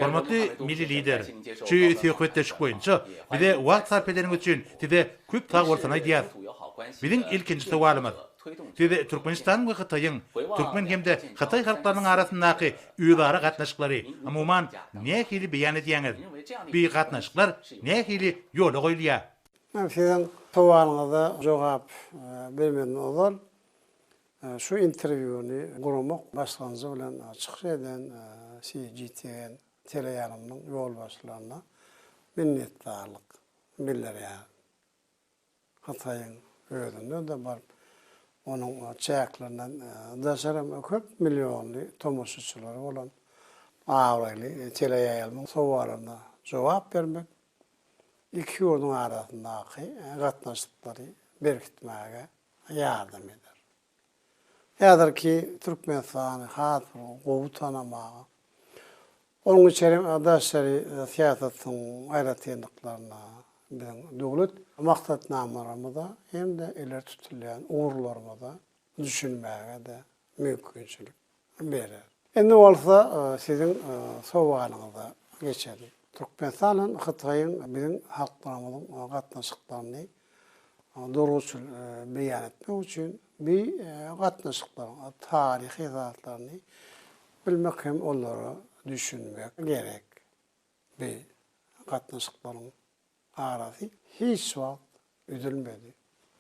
Hormatly Milli Lider, şu söhbetdeşlik boýunça bize wagt sarp edeniňiz üçin Size köp sag bolsun aýdýarys. Biziň ilkinji sowalymyz, Siz Türkmenistanyň we Hytaýyň, türkmen hem-de hytaý halklarynyň arasyndaky özara gatnaşyklary, umuman, nähili beýan edýäňiz? Bi gatnaşyklar nähili ýola goýulýar? Men siziň sowalyňyza jogap bermezden ozal, Şu interwýuny guramak başlanjy bilen çykyş eden CGTN teleýaýlymynyň ýolbaşçylaryna minnetdarlyk bildirýärin. Hytaýyň özünde-de baryp, onuň çäklerinden daşary hem köp millionly tomaşaçylary bolan abraýly teleýaýlymyň sowallaryna jogap bermek, iki ýurduň arasyndaky gatnaşyklary berkitmäge ýardam eder. Häzirki Türkmenistany has bir gowy tanamaga, onuň içeri hem daşary syýasatyň aýratynlyklaryna, biziň döwlet maksatnamalarymyza hem-de ileri tutulýan ugurlarymyza düşünmäge-de mümkinçilik berer. Indi bolsa siziň sowalyňyza geçeli. Türkmenistan bilen Hytaýyň biziň halklarymyzyň gatnaşyklaryny durguçyl beýan etmek üçin bi gatnaşyklaryň taryhy zatlaryny bilmek hem olara düşünmek gerek bi gatnaşyklaryň arasy hiç wagt üzülmedi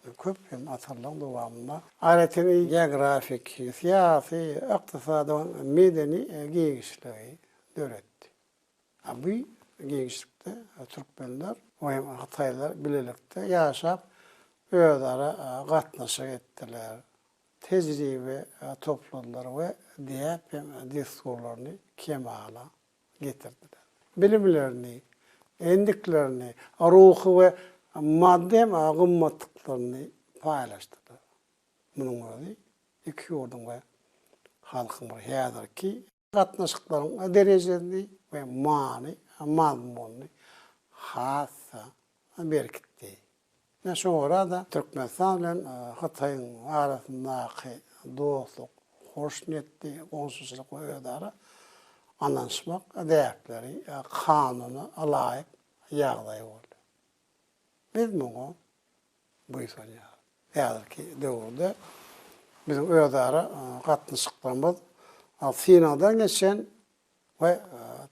we köp hem asyrlaryň dowamynda aýratyn geografik, syýasy, ykdysady we medeni giňişligi döretdi. A bu giňişlikde türkmenler we hem hytaýlar bilelikde ýaşap, özara gatnaşyk etdiler, tejribe topladylar we däp hem dessurlaryny kemala getirdiler. Bilimlerini, endiklerini, ruhy we maddy hem gymmatlyklaryny paýlaşdylar. Munuň özi iki ýurduň we halkyň bir häzirki gatnaşyklaryň derejesini we many-mazmunyny has-da berkitdi. Ine şu orada Türkmenistan bilen Hytaýyň arasyndaky dostluk, hoşniýetli goňşuçylyk we özara ynanyşmak däpleri kanuna laýyk ýagdaý boldy. Biz muňa buýsanýarys. Häzirki döwürde biziň özara gatnaşyklarymyz synagdan geçen we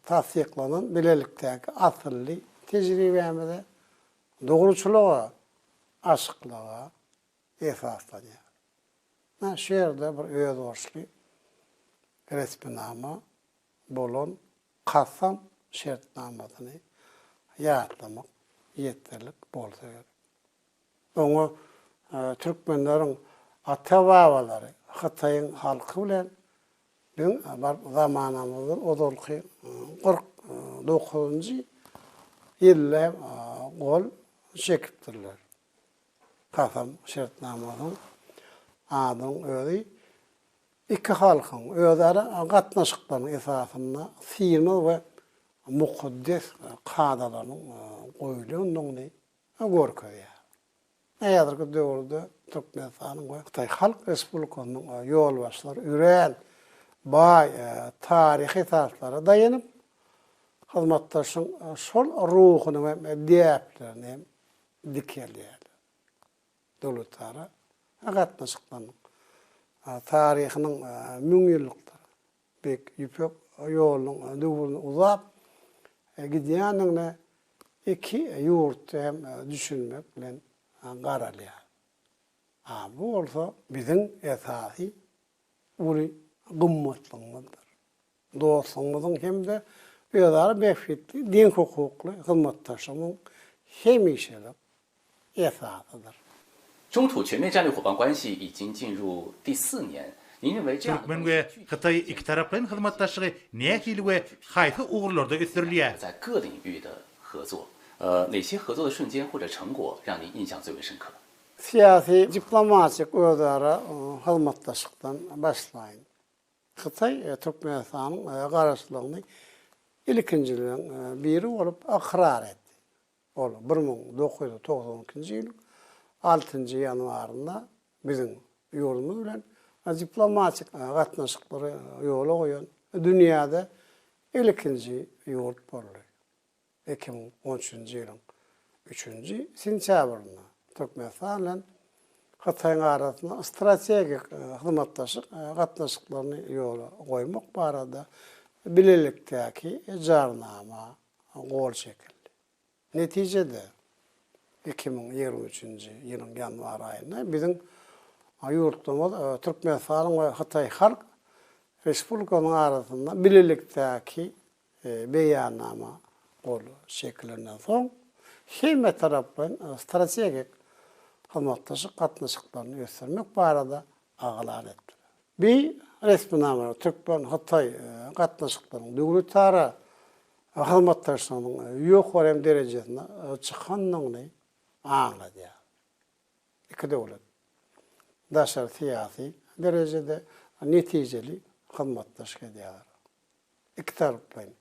tassyklanan bilelikdäki asylly tejribämize, dogruçylyga, açyklyga esaslanýar. Ine, şu ýerde bir özboluşly resminama bolan Kasam şertnamasyny ýatlamak ýeterlik bolsa gerek. Oňa türkmenleriň ata-babalary Hytaýyň halky bilen biziň baryp zamanamyzdan ozalky kyrk dokuzynjy ýylda hem gol çekipdirler. Kasam şertnamasynyň adynyň özi iki halkyň özara gatnaşyklarynyň esasynda synag we mukaddes kadalarynyň goýlandygyny we görkezýär. Häzirki döwürde Türkmenistanyň we Hytaý Halk Respublikasynyň ýolbaşçylary örän baý taryhy esaslara daýanyp, hyzmatdaşlygyň şol ruhuny we däplerini dikeldýärler. Döwletara gatnaşyklarynyň taryhynyň müňýyllykdyr Beýik Ýüpek ýolunyň döwrüni uzap gidýändigine iki ýurtda hem düşünmek bilen garalýar. A bu bolsa biziň esasy uly gymmatlygymyzdyr. Dostlugymyzyň hem-de özara bähbitli, deňhukukly hyzmatdaşlygymyň hemişelik esasydyr. Türkmen we Hytaý ikitaraplaýyn hyzmatdaşlygy nähili we haýsy ugurlarda ösdürilýär? Syýasy-diplomatik özara hyzmatdaşlykdan başlaýyn. Hytaý Türkmenistanyň garaşlygyny ilkinjileriň biri bolup ykrar etdi. Ol bir müň dokuz ýüz togsan ikinji ýylyň altynjy ýanwarynda biziň ýurdumyz bilen diplomatik gatnaşyklary ýola goýan dünýäde ilkinji ýurt boldy. Iki müň on üçünji ýylyň üçünji sentýabrynda Türkmenistan bilen Hytaýyň arasynda strategik hyzmatdaşlyk gatnaşyklaryny ýola goýmak barada bilelikdäki jarnama gol çekildi. Netijede, iki müň ýigrimi üçünji ýylyň ýanwar aýynda biziň ýurtlarymyz Türkmenistanyň we Hytaý Halk Respublikasynyň arasynda Bilelikdäki Beýannama gol çekilenden soň, hemmetaraplaýyn strategik hyzmatdaşlyk gatnaşyklaryny ösdürmek barada aglan etdiler. Bi resminama türkmen-hytaý gatnaşyklaryň döwletara hyzmatdaşlygynyň ýokarym derejesine çykandygyny aňladýar. Iki döwlet daşary syýasy derejede netijeli hyzmatdaşlyk edýärler. Ikitaraplaýyn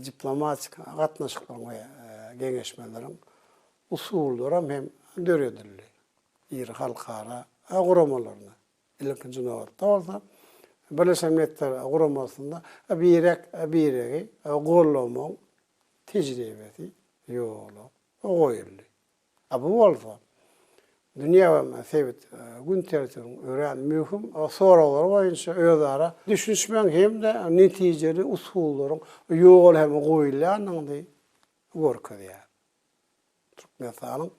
diplomatik gatnaşyklaryň we geňeşmeleriň usullaram hem döredildi. Iri halkara guramalaryny Ilkinji nobatda bolsa, Birleşen Milletler Guramasynda birek biregi gollamagyň tejribesi ýola goýuldy. Bu bolsa, dünýä we sebit gün tertibiniň örän möhüm soraglary boýunça özara düşünişmegiň hem-de netijeli usullaryň ýola hem goýulýandygyny görkezýär. Türkmenistanyň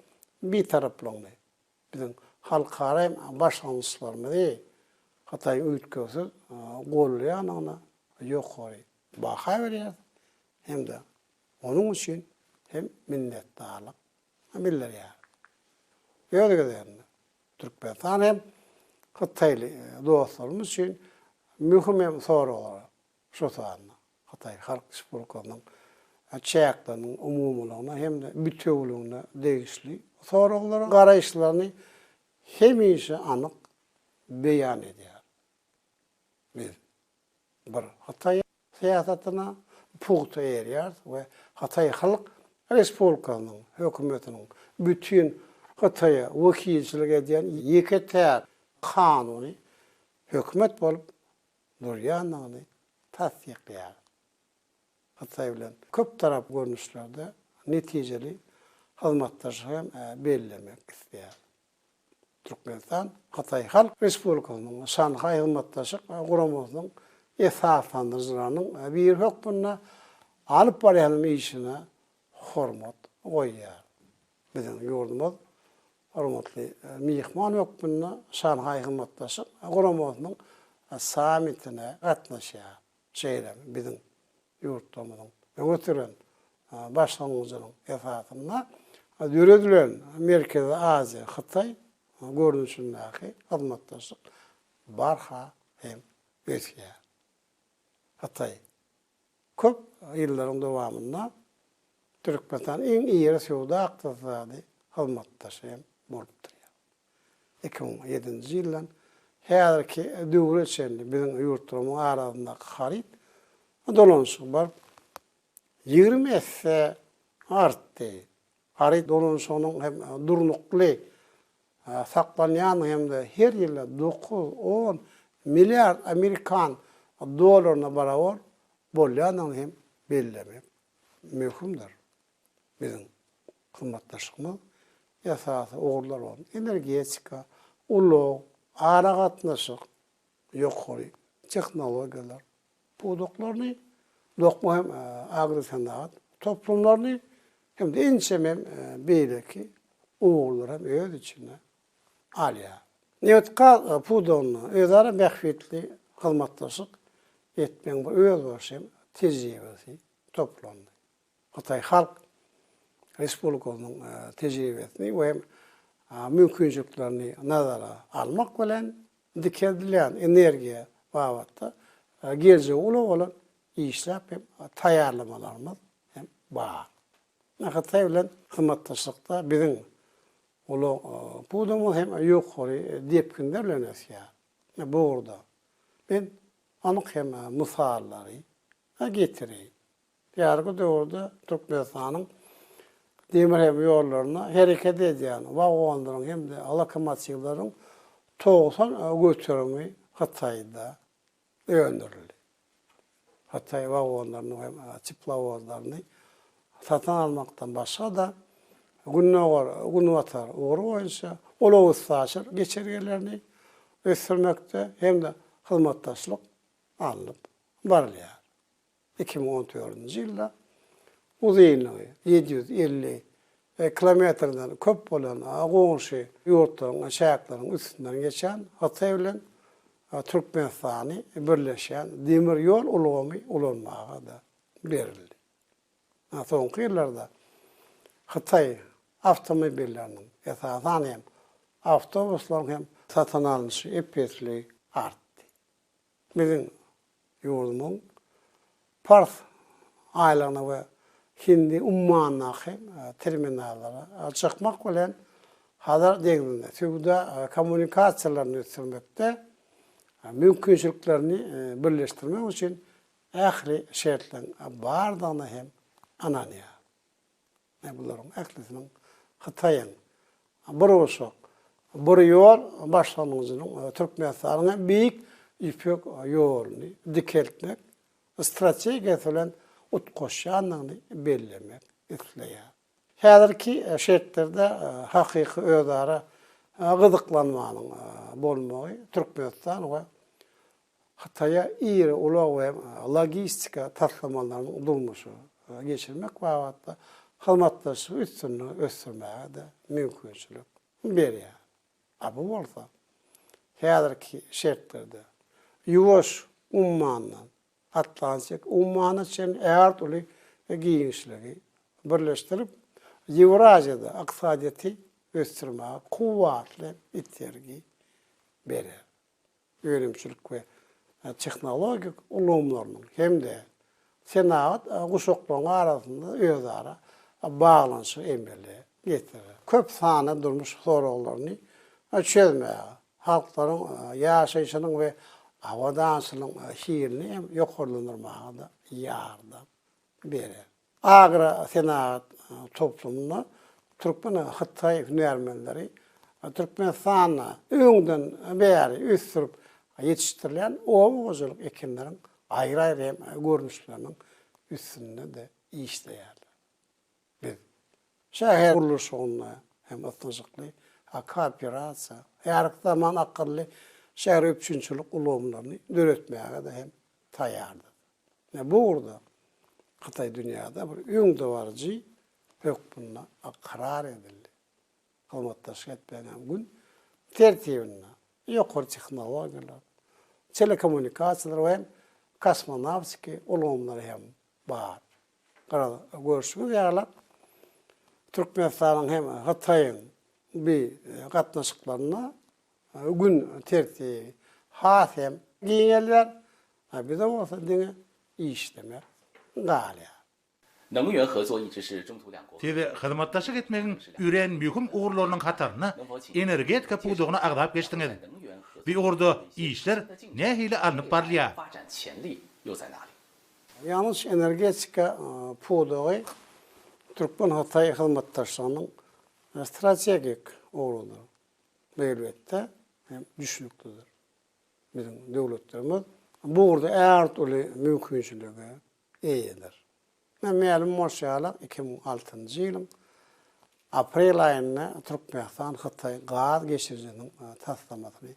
Bitaraplygyny Biziň halkara başlangyçlarymyzy Hytaýyň üýtgewsiz gollaýandygyna ýokary baha berýäris hem-de onuň üçin hem minnetdarlyk bildirýäris. Öz gezeginde, Türkmenistan hem hytaýly dostlarymyz üçin möhüm hem soraglara şol sanda Hytaý Halk Respublikasynyň çäkleriniň umumylygyna hem-de bitewüligine degişli soraglara garaýyşlaryny hemişe anyk beýan edýär. Biz Bir Hytaý syýasatyna pugta eýerýäris we Hytaý Halk Respublikasynyň Hökümetiniň bütin Hytaýa wekilçilik edýän ýeke-täk kanuny hökümet bolup durýandygyny tassyklaýar. Hytaý bilen köptaraply görnüşlerde netijeli hyzmatdaşlygy hem bellemek isleýär. Türkmenistan Hytaý Halk Respublikasynyň Şanhaý Hyzmatdaşlyk Guramasynyň esaslandyryjylarynyň biri hökmünde alyp barýan işine hormat goýýar. Biziň ýurdumyz hormatly myhman hökmünde Şanhaý Hyzmatdaşlyk Guramasynyň sammitine gatnaşýar. Şeýle-de biziň ýurtlarymyzyň öňe süren başlangyjynyň esasynda döredilen Merkezi Aziýa, Hytaý görnüşindäki hyzmatdaşlyk barha hem ösýär. Hytaý Köp ýyllaryň dowamynda Türkmenistan iň iri söwda-ykdysady hyzmatdaşy hem bolup durýar. Iki müň ýedinji ýyldan häzirki döwre çenli biziň ýurtlarymyň arasyndaky haryt dolanyşygy baryp ýigrimi esse artdy. Haryt ulanyşygynyň hem durnukly saklanýandygy hem-de her ýyl dokuz, on milliard amerikan dollaryna barabar bolýandygyny hem bellemek möhümdir. Biziň hyzmatdaşlygymyz esasy ugurlar bolan energetika, ulag, aragatnaşyk, ýokary tehnologiýalar pudaklaryny, dokma hem agrosenagat toplumlaryny hem-de ençeme beýleki ugurlary hem öz içine alýar. Nebitgaz pudagynda özara bähbitli hyzmatdaşlyk etmegiň bir özbaşy hem tejribesi toplandy. Hytaý Halk Respublikasynyň tejribesini we mümkinçiliklerini nazara almak bilen, dikeldilýän energiýa babatda geljegi uly bolan işläp hem taýýarlamalarymyz hem bar. Hytaý bilen hyzmatdaşlykda biziň ulag pudagymyz hem ýokary depginde bilen ösýär. Bu ugurda men anyk hem mysallary getireýin. Häzirki döwürde Türkmenistanyň demir hem ýollarynda hereket edýän wagonlaryň hem-de lokomotiwleriň togsan göterimi Hytaýda öndürildi. Hytaý wagonlaryny we teplowozlaryny satyn almakdan başga-da, Gündogar, Günbatar ugry boýunça ulag-üstaşyr geçelgelerini ösdürmekde hem-de hyzmatdaşlyk alnyp barylýar. Iki müň on dördünji ýylda uzynlygy ýedi ýüz elli kilometrden köp bolan goňşy ýurtlaryň çäkleriniň üstünden geçen Hytaý bilen Türkmenistany birleşen demir ýol ulgamy ulanmaga-da berildi. Soňky ýyllarda Hytaý awtomobilleriniň, esasan hem, awtobuslaryň hem satyn alnyşy ep-esli artdy. Biziň ýurdumyň Pars aýlagyna we Hindi ummanyndaky terminallara çykmak bilen, Hazar deňzinde söwda kommunikasiýalaryny ösdürmekde mümkinçiliklerini birleşdirmek üçin ähli şertleriň bardygyna hem ynanýar. Ine bularyň ählisiniň Hytaýyň Burguşak bur ýol başlangyjynyň Türkmenistanyň hem Beýik Ýüpek ýoluny dikeltmek strategiýasy bilen utgaşýandygyny bellemek isleýär. Häzirki şertlerde hakyky özara gyzyklanmanyň bolmagy Türkmenistan we Hytaýa iri ulag we logistika taslamalaryny durmuşa geçirmek babatda hyzmatdaşlygy üstünlige ösdürmäge-de mümkinçilik berýär. A bu bolsa, häzirki şertlerde Ýuwaş ummanyndan Atlantik ummana çenli ägirt uly giňişligi birleşdirip, Ýewraziýada ykdysadyýeti ösdürmäge kuwwatly itergi berer. önümçilik we tehnologik ulgamlarynyň hem-de senagat guşaklarynyň arasynda özara baglanyşygy emele getirer, köp sanly durmuş soraglaryny çözmäge, halklaryň ýaşaýşynyň we abadançylygyň hilini hem ýokarlandyrmaga-da ýardam berer. Agrosenagat toplumyna türkmen, hytaý hünärmenleri Türkmenistanda öňden bäri ösdürip ýetişdirilýän oba hojalyk ekinleriň aýry-aýry hem görnüşleriniň üstünde-de işleýärler. Biz şäher gurluşygynda hem ysnyşykly kooperasiýa, häzirki zaman akylly şäher üpjünçilik ulgamlaryny döretmäge-de hem taýýardyrys. we bu ugurda Hytaý dünýäde bir öňdebaryjy hökmünde ykrar edildi. Hyzmatdaşlyk etmegiň hem gün tertibinde ýokary tehnologiýalar, telekommunikasiýalar we hem kosmonawtiki ulgamlary hem bar. Garaz, görşüňiz ýaly, Türkmenistanyň hem Hytaýyň bi gatnaşyklarynda Gün tertibi has hem giňelýär, a bize bolsa diňe işlemek galýar. Siz hyzmatdaşlyk etmegiň örän möhüm ugurlarynyň hatarynda energetika pudagyny agzap geçdiňiz. Bu ugurda işler nähili alnyp barylýar? Ýangyç-energetika pudagy türkmen-hytaý hyzmatdaşlygynyň strategik ugrudyr. Elbetde, hem düşnüklidir. Biziň döwletlerimiz bu ugurda ägirt uly mümkinçilige eýedir. Ine, mälim bolşy ýaly, iki müň altynjy ýylyň aprel aýynda Türkmenistan-Hytaý gaz geçirijiniň taslamasyny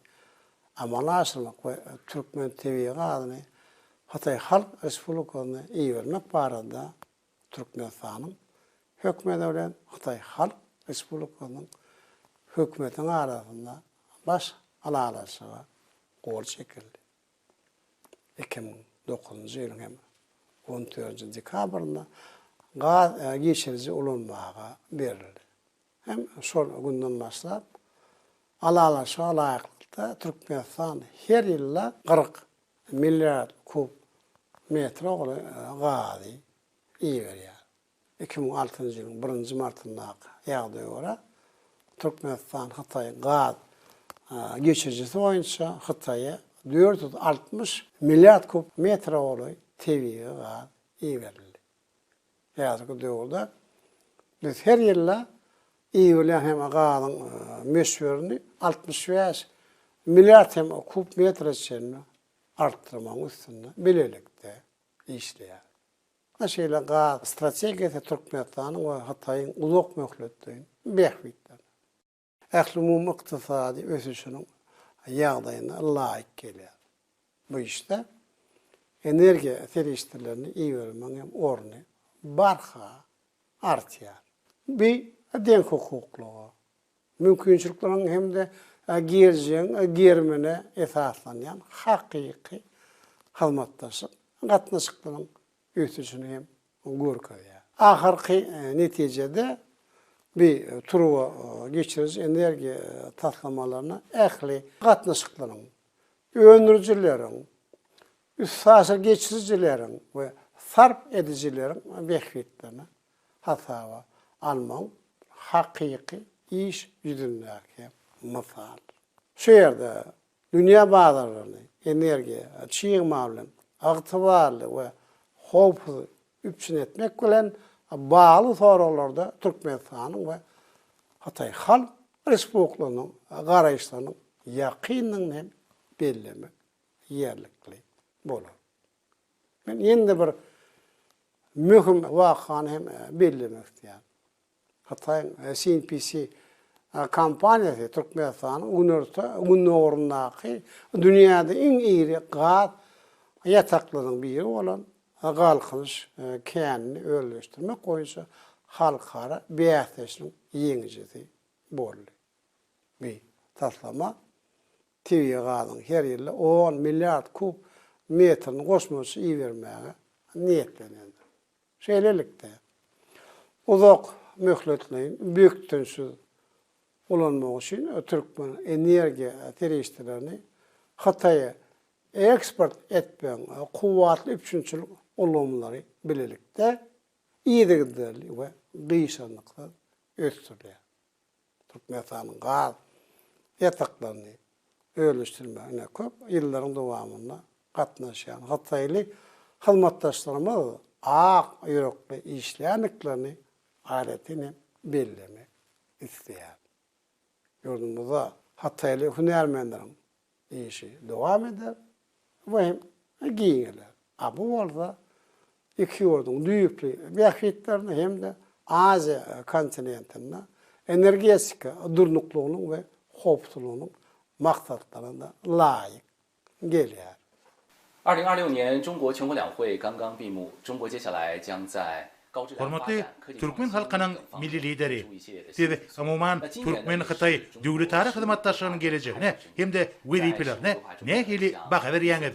amala aşyrmak we türkmen tebigy gazyny Hytaý Halk Respublikasyna ibermek barada Türkmenistanyň Hökümeti bilen Hytaý Halk Respublikasynyň Hökümetiniň arasynda Baş ylalaşyga gol çekildi. Iki müň dokuzynjy ýylyň hem on dördünji dekabrynda gaz geçiriji ulanmaga berildi. Hem şol günden başlap, ylalaşyga laýyklykda Türkmenistan her ýylda kyrk Milliard kub metr ogly gazy iberýär. Iki müň altynjy ýylyň birinji martyndaky ýagdaýa görä, Türkmenistan Hytaý gaz geçirijisi boýunça Hytaýa dört ýüz altmyş milliard kub metr ogly tebigy gaz iberildi. Häzirki döwürde biz her ýylda iberilýän hem gazyň möçberini altmyş bäş milliard hem kub metre çenli artdyrmagyň üstünde bilelikde işleýäris. Ine şeýle gaz strategiýasy Türkmenistanyň we Hytaýyň uzak möhletleýin bähbitlerine. Ählumumy ykdysady ösüşiniň ýagdaýyna laýyk gelýär. Bu işde energiýa serişdelerini ibermegiň hem orny barha artýar. Bu deňhukuklyga, mümkinçilikleriň hem-de geljegiň germine esaslanýan hakyky hyzmatdaşlyk gatnaşyklaryň ösüşini hem görkezýär. Ahyrky netijede bi turba geçiriji energiýa taslamalaryna ähli gatnaşyklaryň, öndürijileriň, üstaşyr geçirijileriň we sarp edijileriň bähbitlerini hasaba almagyň hakyky iş ýüzündäki mysalydyr. Şu ýerde Dünýä bazarlaryny energiýa, çig mal bilen ygtybarly we howpsuz üpjün etmek bilen bagly soraglarda Türkmenistanyň we Hytaý Halk Respublikasynyň garaýyşlarynyň ýakyndygyny hem bellemek ýerlikli bolar. Men ýene-de bir möhüm wakany hem bellemek isleýän. Hytaýyň CNPC kompaniýasy Türkmenistanyň günorta, gündogaryndaky dünýäde iň iri gaz ýataklarynyň biri bolan Galkynyş känini özleşdirmek boýunça halkara bäsleşigiň ýeňijisi boldy. Bu taslama tebigy gazyň her ýylda on milliard kub metrini goşmaça ibermäge niýetlenendir. Şeýlelikde, uzak möhletleýin bökdençsiz ulanmak üçin türkmen energiýa serişdelerini Hytaýa eksport etmegiň kuwwatly üpjünçilik ulgamlary bilelikde yzygiderli we gyşarnyksyz ösdürilýär. Türkmenistanyň gaz ýataklaryny özleşdirmegine köp ýyllaryň dowamynda gatnaşýan hytaýly hyzmatdaşlarymyz ak ýürekli işleýändiklerini aýratyn hem bellemek isleýärin. Ýurdumyzda hytaýly hünärmenleriň Işi dowam eder we hem giňeler. A bu bolsa iki ýurduň düýpli bähbitlerine hem-de Aziýa kontinentinde energetika durnuklygynyň we howpsuzlygynyň maksatlaryna-da laýyk gelýär. Hormatly türkmen halkynyň Milli Lideri! Siz, umuman, türkmen-hytaý döwletara hyzmatdaşlygynyň gelejegine hem-de wezipelerine nähili baha berýäňiz?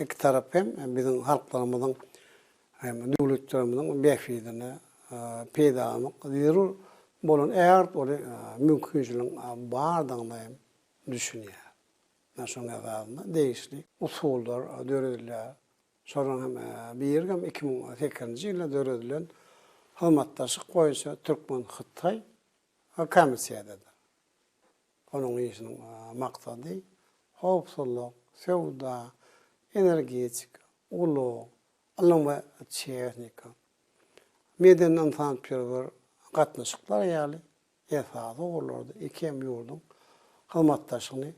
iki tarap hem biziň halklarymyzyň hem döwletlerimiziň bähbidine peýdalanyp zerur bolan ägirt uly mümkinçiligiň bardygyna hem düşünýär. Ine şonuň esasynda degişli usullar döredilýär. Şolaryň hem biri hem iki müň sekizinji ýylda döredilen hyzmatdaşlyk boýunça türkmen-hytaý komissiýadyr. Onuň işiniň maksady howpsuzlyk, söwda, energetika, ulag, ylym we tehnika, medeni-ynsanperwer gatnaşyklar ýaly esasy ugurlarda iki hem ýurduň hyzmatdaşlygyny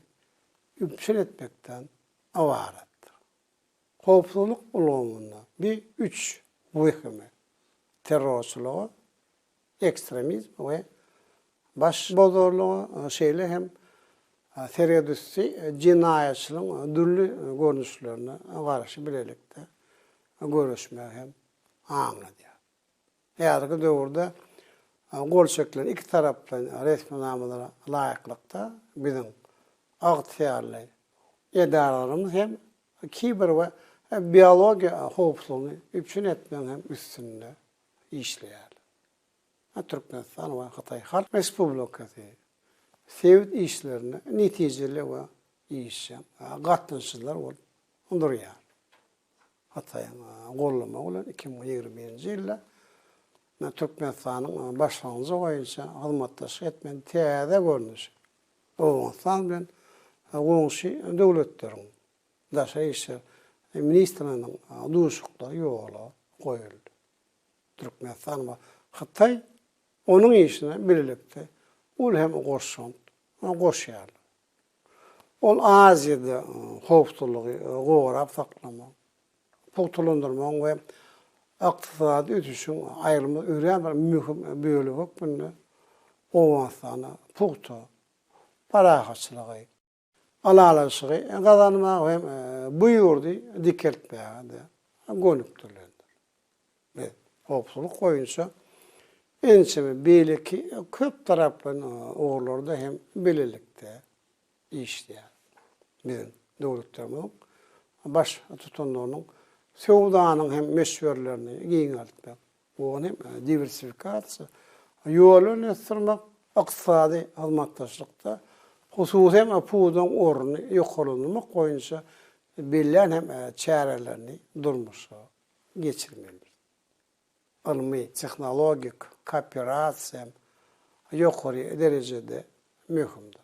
üpjün etmekden ybaratdyr. Howpsuzlyk ulgamynda bi üç wehimi, terrorçylygy, ekstremizm we başbozarlyga, şeýle hem seredüsti jenaýatçylygyň dürli görnüşlerine garşy bilelikde göreşmegi hem aňladýar. Häzirki döwürde gol çekilen ikitaraplaýyn resminamalara laýyklykda, biziň ygtyýarly edaralarymyz hem kiber we biologiýa howpsuzlygyny üpjün etmegiň hem üstünde işleýär. Türkmenistan we Hytaý Halk Respublikasy sebit işlerinde netijeli we işjeň gatnaşyjylar bolup durýar. Hytaýyň goldamagy bilen iki müň ýigrimi birinji ýylda Türkmenistanyň başlangyjy boýunça hyzmatdaşlyk etmegiň täze görnüşi Owganystan bilen goňşy döwletleriň Daşary işler ministriniň duşuşyklary ýola goýuldy. Türkmenistan we Hytaý onuň işine bilelikde uly hem goşant goşýarlar. Ol Aziýada howpsuzlygy gorap saklamagyň, pugtalandyrmagyň we ykdysady ösüşiň aýrylmaz örän bir möhüm bölegi hökmünde Owganystana pugta parahatçylygy, ylalaşygy gazanmaga hem bu ýurdy dikeltmäge-de gönükdirilendir. Biz howpsuzlyk boýunça ençeme beýleki köp taraply ugurlarda hem bilelikde işleýäris. Biziň döwletlerimiziň Baştutanlarynyň söwdanyň hem möçberlerini giňeltmek, Bu onuň diwersifikasiýa ýoluny ösdürmek, ykdysady hyzmatdaşlykda hususy pudagyň ornuny ýokarlandyrmak boýunça bellän hem çärelerini durmuşa geçirmelidir. Ylmy, tehnologik kooperasiýa hem ýokary derejede möhümdir.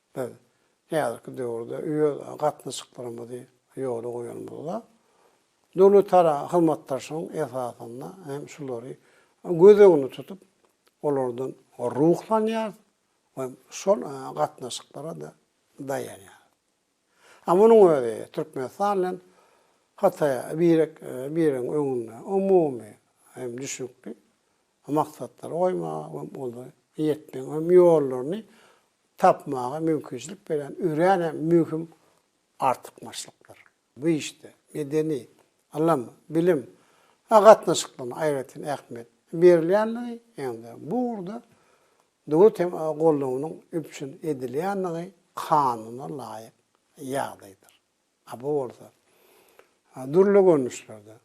Biz häzirki döwürde öz gatnaşyklarymyzy ýola goýanymyzda, döwletara hyzmatdaşlygyň esasynda hem şulary göz öňünde tutup, olardan ruhlanýarys we şol gatnaşyklara-da daýanýarys. A munuň özi Türkmenistan bilen Hytaýa birek-biregiň öňünde umumy hem düşnükli we maksatlary goýmaga we olara ýetmegiň hem ýollaryny tapmaga mümkinçilik berýän örän hem möhüm artykmaçlykdyr. Bu işde medeni, ylym, bilim we gatnaşyklaryna aýratyn ähmiýet berilýändigi hem-de bu ugurda döwlet hem goldawynyň üpjün edilýändigi kanuna laýyk ýagdaýdyr. A bu bolsa dürli görnüşlerde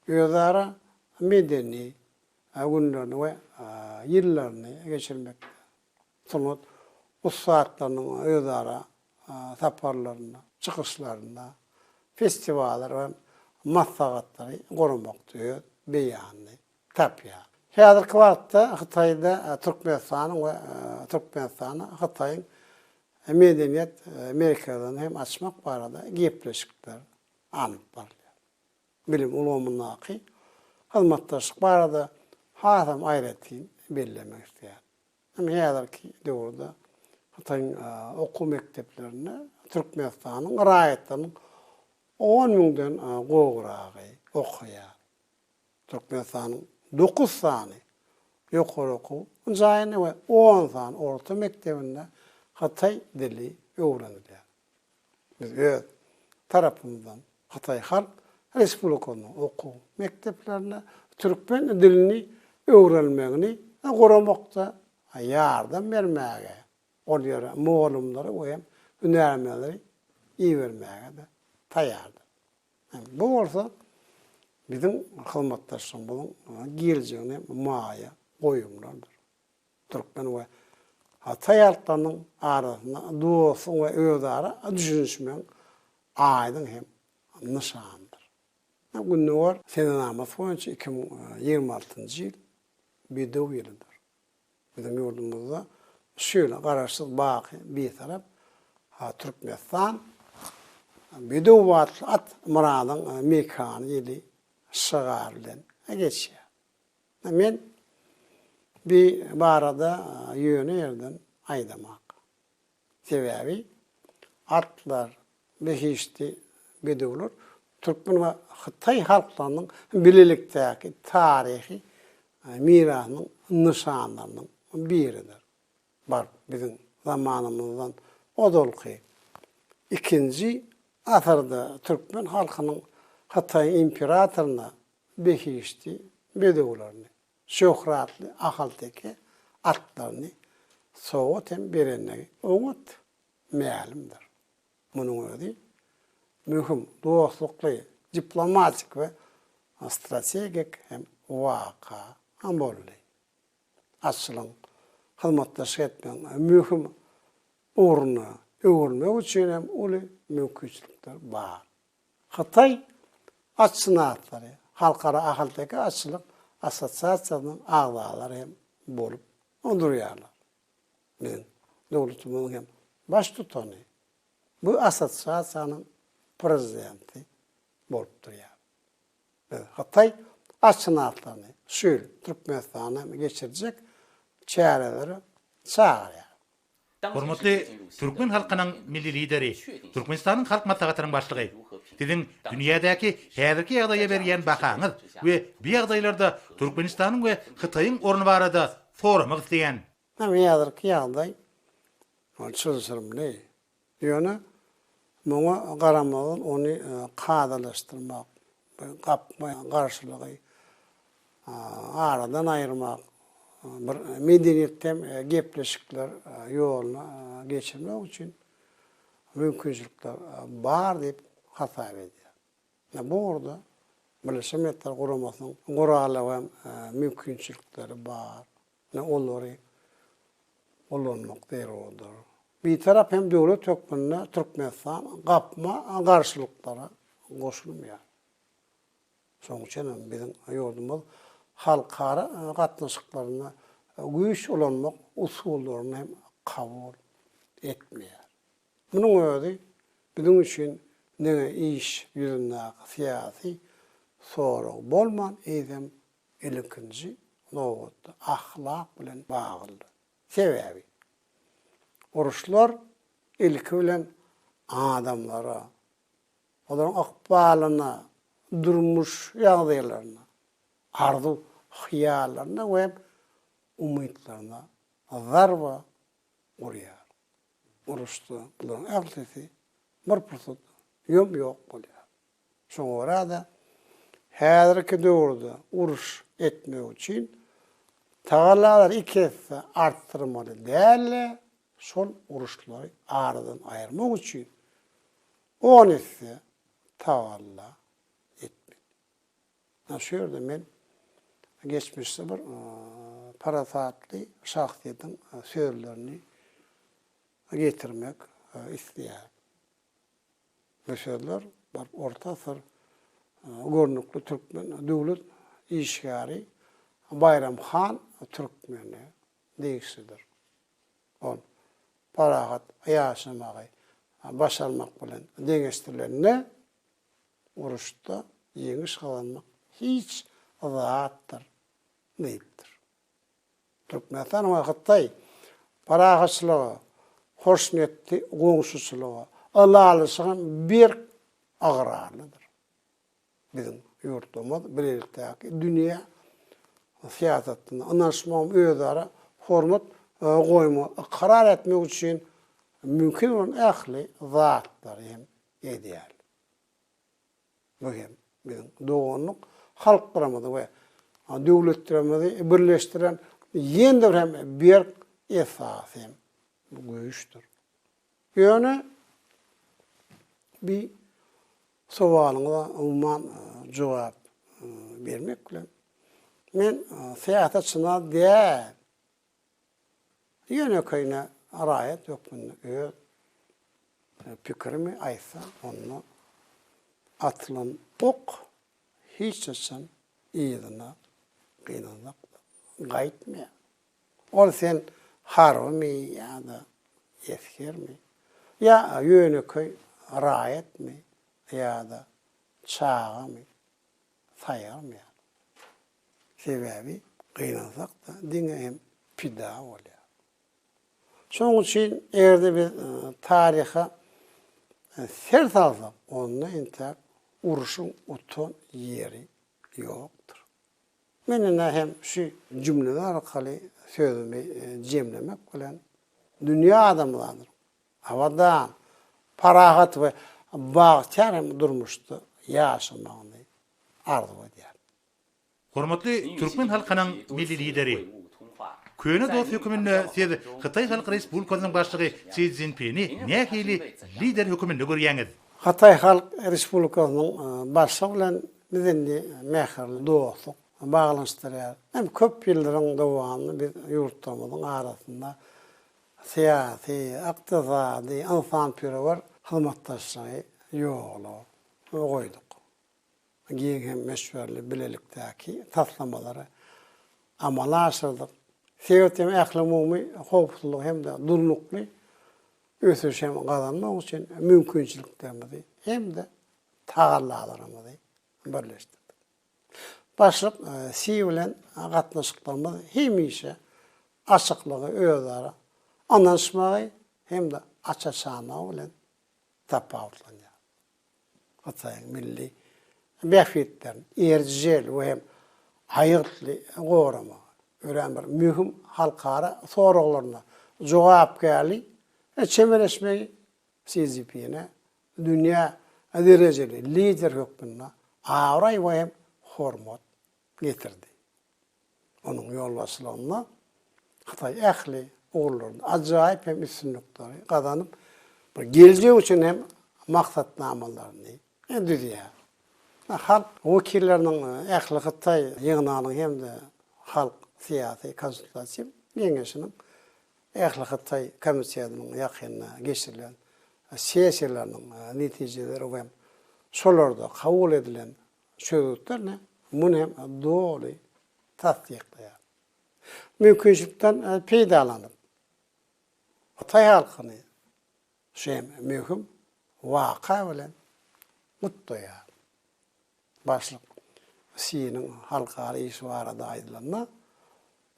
özara medeni günlerini we ýyllaryny geçirmekde, sungat ussatlarynyň özara saparlarynda, çykyşlarynda, festiwallar we maslahatlary guramakda öz beýanyny tapýar. Häzirki wagtda Hytaýda Türkmenistanyň we Türkmenistany Hytaýyň medeniýet merkezini hem açmak barada gepleşikler alnyp barylýar. bilim ulgamyndaky hyzmatdaşlyk barada hasam aýratyn bellemek isleýärin. Ine, häzirki döwürde Hytaýyň okuw mekdeplerinde Türkmenistanyň raýatlarynyň on müňden gowragy okaýar. Türkmenistanyň dokuz sany ýokary okuw jaýynda we on sany orta mekdebinde hytaý dili öwrenilýär. Biz öz tarapymyzdan Hytaý Halk Respublikasynyň okuw mekdeplerine türkmen dilini öwrenmegini goramakda ýardam bermäge, ol ýere mugallymlary we hem hünärmenleri ibermäge-de taýýardyr. Bu bolsa biziň hyzmatdaşlygymyzyň geljegine maýa goýumlardyr. türkmen we hataý halklarynyň arasynda dostlugyň we özara düşünişmegiň aýdyň hem nyşanydyr. Gündogar senenamasy boýunça iki müň ýigrimi altynjy ýyl Bedew ýylydyr. Biziň ýurdumyzda şu ýyla Garaşsyz, baky Bitarap Türkmenistan Bedew atly at-myradyň mekany ýyly şygar bilen geçýär. Men bi barada ýöne ýerden aýdamak. Sebäbi atlar, behişdi bedewler türkmen we hytaý halklarynyň bilelikdäki taryhy mirasynyň nyşanlarynyň biridir. Bar, biziň zamanymyzdan ozalky ikinji asyrda türkmen halkynyň hytaýyň imperatoryna behişdi bedewlerini, şöhratly ahalteke atlaryny sowgat hem berendigi oňat mälimdir. Munuň özi möhüm dostlukly, diplomatik we strategik hem waka boldy. Açylyň hyzmatdaşlyk etmegiň möhüm ugruna öwrülmegi üçin hem uly mümkinçilikler bar. Hytaý at synatlary Halkara ahalteke atçylyk assosiasiýasynyň agzalary hem bolup durýarlar. Biziň döwletimiziň hem baştutany bu assosiasiýanyň prezidenti bolup durýar. Biz Hytaý at synatlaryny şu ýyl Türkmenistanda geçirjek çärelere çagyrýarys. Hormatly türkmen halkynyň Milli Lideri, Türkmenistanyň Halk Maslahatynyň Başlygy! Siziň dünýädäki häzirki ýagdaýa berýän bahaňyz we bu ýagdaýlarda Türkmenistanyň we Hytaýyň orny barada soramak isleýän. Häzirki ýagdaý çylşyrymly. Ýöne muňa garamazdan ony kadalaşdyrmak we gapma garşylygy aradan aýyrmak, bir medeniýetden gepleşikler ýoluna geçirmek üçin mümkinçilikler bar diýip hasap edýär. Bu ugurda Birleşen Milletler Guramasynyň guraly hem mümkinçilikleri bar. Ine olary ulanmak zerurdyr. Bitarap hem döwlet hökmünde Türkmenistan gapma garşylyklara goşulmaýar. Şonuň üçin hem biziň ýurdumyz halkara gatnaşyklarynda güýç ulanmak usullaryny hem kabul etmeýär. Munuň özi biziň üçin diňe iş ýüzündäki syýasy sorag bolman, eýsem ilkinji nobatda ahlak bilen baglydyr. Sebäbi uruşlar ilki bilen adamlara, olaryň ykbalyna, durmuş ýagdaýlaryna, arzuw-hyýallaryna we umytlaryna zarba urýar. Uruşda bularyň ählisi bir pursatda ýom-ýok bolýar. Şoňa görä-de, häzirki döwürde uruş etmek üçin tagallalary iki esse artdyrmaly däl-de, şol uruşlary aradan aýyrmak üçin on esse tagalla etmeli. Ynha, şu ýerde men geçmişde bir parasatly şahsyýetiň sözlerini getirmek isleýärin. Bu sözler baryp orta asyr görnükli türkmen döwlet işgäri Baýram han Türkmene degişlidir. Ol parahat ýaşamagy başarmak bilen deňeşdirilende, uruşda ýeňiş gazanmak hiç zatdyr diýipdir. Türkmenistan we Hytaý parahatçylyga, hoşniýetli goňşuçylyga, ylalaşyga berk ygrarlydyr. Biziň ýurtlarymyz bilelikdäki dünýä syýasatynda ynanyşmagyň özara hormat goýmagy ykrar etmek üçin mümkin bolan ähli zatlary hem edýärler. Bu hem biziň doganlyk halklarymyzy we döwletlerimizi birleşdiren ýene-de bir hem berk esas hem güýçdür. Ýöne bi sowalyňyza umuman jogap bermek bilen, men syýasatçyna däl, Ýönekeýine raýat hökmünde öz pikirimi aýtsam, onda atylan ok hiç haçan yzyna gynanlak gaýtmaýar. Ol sen harbymy ýa-da esgermi, ýa ýönekeý raýatmy ýa-da çagamy saýgarmaýar. Sebäbi gynansak-da diňe hem pida bolýarys. Şonuň üçin eger-de biz taryha ser salsak, onda entäk uruşyň utan ýeri ýokdur. Men ine hem şu jümleler arkaly sözümi jemlemek bilen, dünýä adamzadynyň abadan, parahat we bagtyýar hem durmuşda ýaşamagyny arzuw edýärin. Hormatly türkmen halkynyň Milli Lideri! Köne dost höküminde siz Hytaý Halk Respublikasynyň Başlygy Si Szinpini nähili lider höküminde görýäňiz? Hytaý Halk Respublikasynyň Başlygy bilen biz indi mähirli dostluk baglanyşdyrýar. Hem köp ýyllaryň dowamynda biz ýurtlarymyzyň arasynda syýasy, ykdysady, ynsanperwer hyzmatdaşlygy ýola goýduk. giň hem möçberli bilelikdäki taslamalary amala aşyrdyk. Sebit hem ählumumy howpsuzlygy hem-de durnukly ösüşi hem gazanmak üçin mümkinçiliklerimizi hem-de tagallalarymyzy birleşdirdik. Başlyk Si bilen gatnaşyklarymyz hemişe açyklygy, özara ynanyşmagy hem-de aç-açanlygy bilen tapawutlanýar. Hytaýyň milli bähbitlerini erjel we hem aýgytly goramagy örän bir möhüm halkara soraglaryna jogapkärli çemeleşmegi Si Szinpine dünýä derejeli lider hökmünde abraý we hem hormat getirdi. Onuň ýolbaşçylygynda Hytaý ähli ugurlarda ajaýyp hem üstünlikleri gazanyp, bir geljek üçin hem maksatnamalaryny düzýär. Halk wekilleriniň ähli Hytaý ýygnagynyň hem-de Halk syýasy konsultatiw geňeşiniň ähli Hytaý komitetiniň ýakynda geçirilen sessiýalarynyň netijeleri we şolarda kabul edilen çözgütlerini muny hem doly tassyklaýar. Mümkinçilikden peýdalanyp, hytaý halkyny şu hem möhüm waka bilen gutlaýar. Başlyk Siniň halkara işi barada aýdylanda,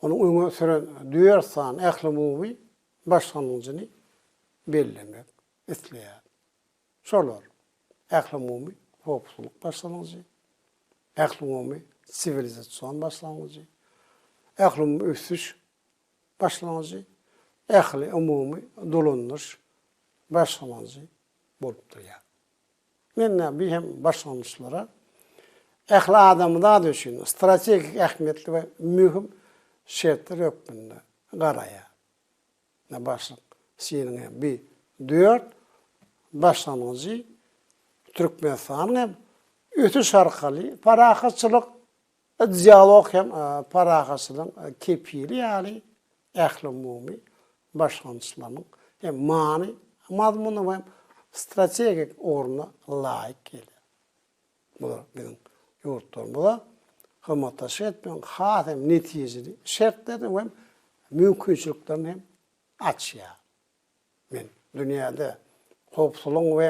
onuň öňe süren dört sany ählumumy başlangyjyny bellemek isleýär. Şolar, ählumumy howpsuzlyk başlangyjy, ählumumy siwilizasion başlangyjy, ählumumy ösüş başlangyjy, ähliumumy dolanyş başlangyjy bolup durýar. Mende bu hem başlangyçlara ähli adamzat üçin strategik ähmiýetli we möhüm şertler hökmünde garaýar. Ine başlyk seniň hem bi dört başlangyjy Türkmenistanyň hem ösüş arkaly parahatçylyk dialog hem parahatçylygyň kepili ýaly ählumumy başlangyçlarynyň hem many mazmuny hem strategik ugruna laýyk gelýär. Bular biziň ýurtlarymyza hyzmatdaşlyk etmegiň has hem netijeli şertlerini we mümkinçiliklerini hem açýar. Men dünýäde howpsuzlygyň we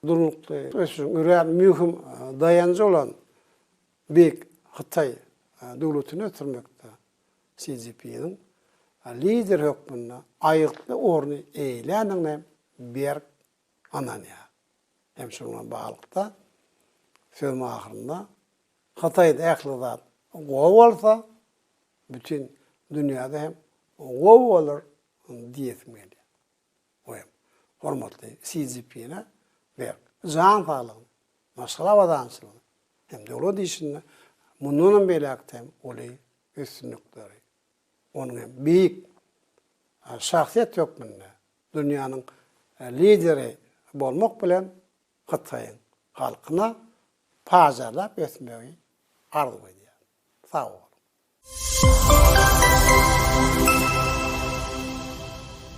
durnukly ösüşiň örän möhüm daýanjy bolan Beýik Hytaý döwletini ösdürmekde Si Szinpiniň lider hökmünde aýgytly orny eýeländigine berk Hananya hem şunuň bilen baglylykda sözümiň ahyrynda Hytaýda ähli zat gowy bolsa, bütin dünýäde hem gowy bolar diýesim gelýär. Bu hem hormatly Si Szinpine berk jan saglygyny, maşgala abadançylygyny hem döwlet işinde mundanam beýläkde hem uly üstünlikleri Onuň hem beýik şahsyýet hökmünde dünýäniň lideri bolmak bilen Hytaýyň halkyna pajarlap ösmegi arzuw edýän. Sag boluň.